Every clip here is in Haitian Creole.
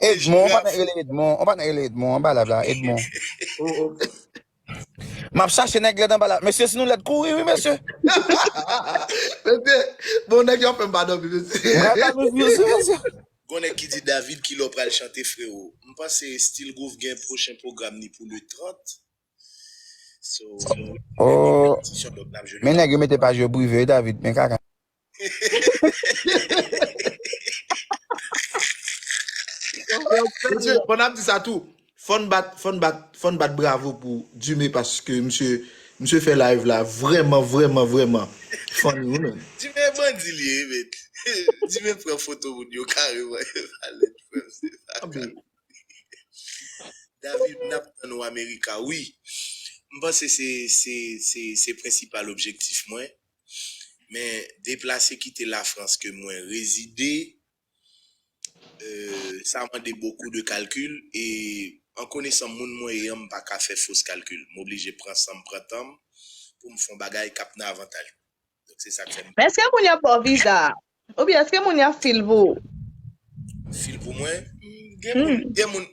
Edmon, yon patnè k rele Edmon, yon patnè k rele Edmon anba live la, Edmon. Oh oh. Map chache nèg lèd anba la. Mesye si nou lèd kouri wi mesye. Mesye, bon nèg yo ap fèm pa dòmi mesye. M pral ba nou views wi mesye. Gon nèg ki di David kilè w pral chante freo? M panse Stilgroove gen pwochen pwogram ni pou le 30. Oh Men nèg yo mete paj yo prive wi David men kaka. Mesye pandan ap di sa tou fòn bat fòn bat fòn bat bravo pou Dime paske misye misye fè live la vrèman vrèman vrèman funny wi menn. Dime bandi li ye wi menn. Dime pran foto moun yo kareman yo pale frèm se pa kale. David nap tann ou America wi. M panse se se se prensipal objektif mwen. Men deplase kite la France ke mwen rezide sa mande bokou de kalkil e an konesan moun mwen ye an m paka fè fos kalkil. M oblije pran sanm pran tanm poum fon bagay kap nan avantaj mwen. Men eske moun ya baw viza a? Ou byen eske moun ya fil pou ou? Fil pou mwen? Gen moun, gen moun,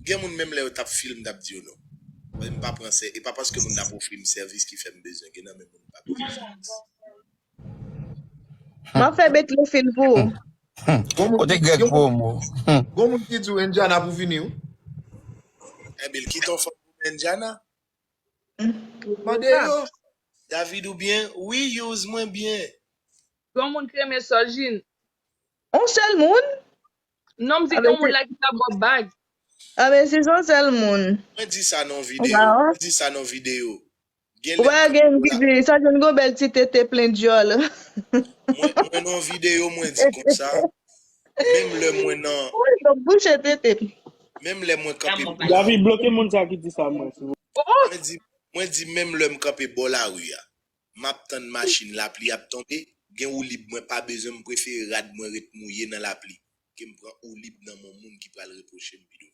gen moun menm lè yo tap fil m tap di yo non. Mwen m pa pran sè, e pa paske moun nan ap ofri m sèvis ki fè m bezwen gen nan men moun m pa bezwen sèvis. Map fè Betty fil pou ou. Kote Greg promo? Gon moun ki di w Indiana pou vini w? Ebyen l kite yon fanm pou mwen Indiana? Ou bon Mande sa. yo. David ou byen? Wi use mwen byen. Yon moun ki renmen soljin. On sel moun? Non m di gen yon moun la ki ta baw bag. Ah men si son sel moun. Mwen di sa nan yon video. Mwen di sa nan yon video. Gen Ou nèg pa gen ki di soljin gon bel ti tete plen dyol. Mwen nan yon video mwen di konsa. Menm lè mwen nan Woy yo bouche tete m. menm lè mwen kanpe bò la David, bloke moun sa ki di sa mwen, silvouplè. Oh! mwen di mwen di menm lè m kanpe bò lari a map tann machin lapli ap tonbe gen woulib mwen pa bezwen m prefere rad mwen ret mouye nan lapli ke m pran oulib nan mon moun ki pral repwoche m pi douvan.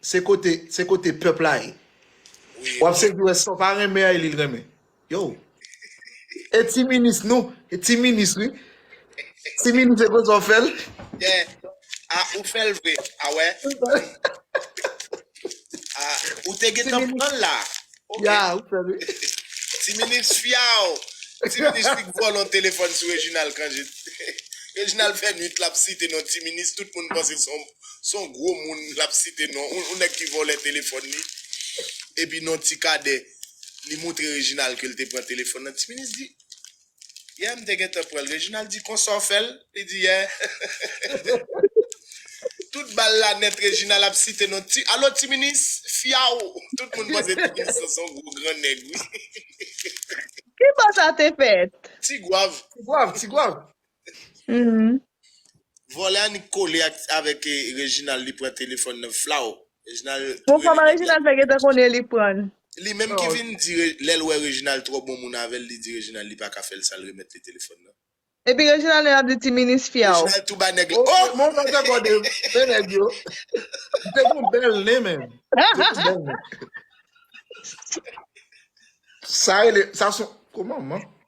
Se kote se kote pèp la ye. Wap sezi wè sa w pa renmen an e li l renmen. Yow. E ti minis nou, e ti minis wi. Ti minis e konsa w fè l. Yè. A ou fè l vre. A wè. A ou te gen tan pran l la. Ya ou fè l wi. Ti minis fyaw. Ti minis li k vòlò telefòn sou Reginald Cangé. Reginald fè nwit lap site non ti minis tout moun panse s on. Son gwo moun lap site non on nèg ki vòlè telefòn li epi non ti kadè li moutre Reginald kel te pran telefòn nan ti minis di yè mte gentan pranl Reginald di konsaw fèl li di yè tout bal la nèt Reginald ap site non ti alo ti minis fyaw tout moun panse ti minis lan son gwo gran nèg wi. Kibo sa te fèt? Ti gwav. Ti gwav ti gwav. Humm. Vòlè annik kole ak avèk Reginald li pran telefòn nan flaw Reginald Bon rele kòman nèg la. Reginald fè gentan konnen li prann Li menm ki vin di lèl wè Reginald twò bon moun avèl li di Reginald li paka fèl sal remèt li telefòn nan. Epi Reginald menm ap di ti minis fyaw. Reginald tou ba nèg la oh. Ok bon fè kòde men nèg yo te gon bèl nen menm te gon bèl nen. Sa rele sa son koman man.